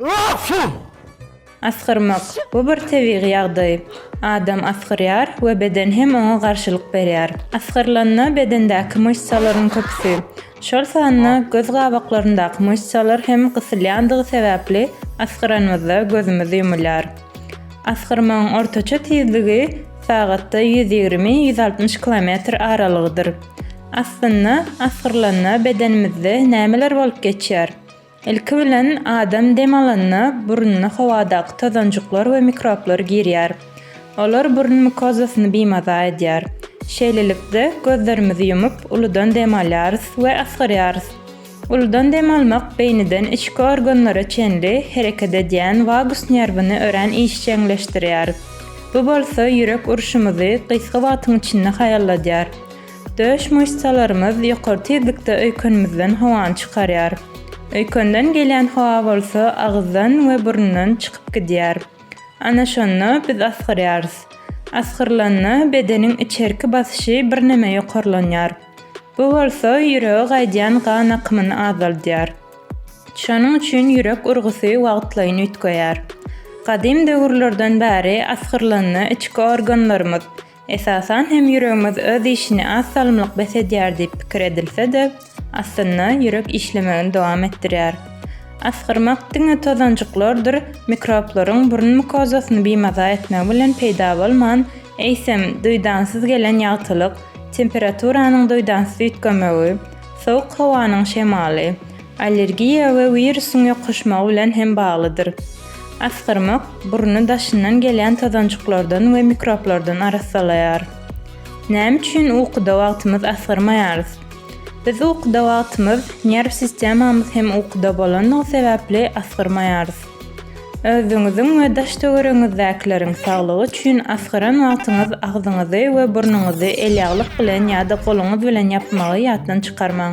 Öksüz! Asgyrmak, bu bir tebigy ýagdaý. Adam asgyrýar we beden hem oňa garşylyk berýär. Asgyrylanda bedendäki myşsalaryň köpüsi, şol sanda göz gabaklaryndaky myşsalar hem gysylýandygy sebäpli asgyranymyzda gözümiz ýumulýar. Asgyrmagyň ortaça tizligi sagatda ýüz ýigrimi, ýüz altmyş kilometr aralygydyr. Aslynda, asgyrylanda bedenimizde nämeler bolup geçýär? Ilki bilen, adam dem alanda, burnuna howadaky tozanjyklar we mikroblar girýär. Olar burun mukozasyny bimaza edýär. Şeýlelikde, gözlerimizi ýumup, uludan dem alýarys we asgyrýarys. Uludan dem almak beýniden içki organlara çenli hereket edýän wagus nerwini örän işjeňleşdirýär. Bu bolsa ýürek urşumyzy gysga wagtyň içinde haýalladýar. Döş myşsalarymyz ýokary tizlikde öýkenimizden howany çykarýar. Öýkenden gelýän howa bolsa agyzdan we burundan çykyp gidýär. Ana şonda biz asgyrýarys. Asgyrylanda bedeniň içerki basyşy birneme ýokarlanýar. Bu bolsa ýürege gaýdýan gan akymyny azaldýar. Şonuň üçin ýürek urgusy wagtlaýyn üýtgeýär. Gadym döwürlerden bäri asgyrylanda içki organlarymyz, Esasan hem ýüregimiz öz işini az salymlyk bes edýär diýip pikir edilse-de, aslynda ýürek işlemegini dowam etdirýär. Asgyrmak diňe tozanjyklardyr mikroblaryň burun mukozasyny bimaza etmegi bilen peýda bolman, eýsem, duýdansyz gelen ýagtylyk, temperaturanyň duýdansyz üýtgemegi, sowuk howanyň şemaly, Allergiýa we wirusyň ýokuşmagy bilen hem baglydyr. Asgyrmak burny daşyndan gelýän tozanjyklardan we mikroblardan arassalaýar. Näme üçin ukuda wagtymyz asgyrmaýarys? Biz ukuda wagtymyz, nerw sistemamyz hem ukuda bolandygy sebäpli asgyrmaýarys. Özüňiziň we daş-töweregiňizdäkileriň saglygy üçin asgyran wagtyňyz agzyňyzy we burnuňyzy elýaglyk bilen ýa-da goluňyz bilen ýapmagy ýatdan çykarmaň.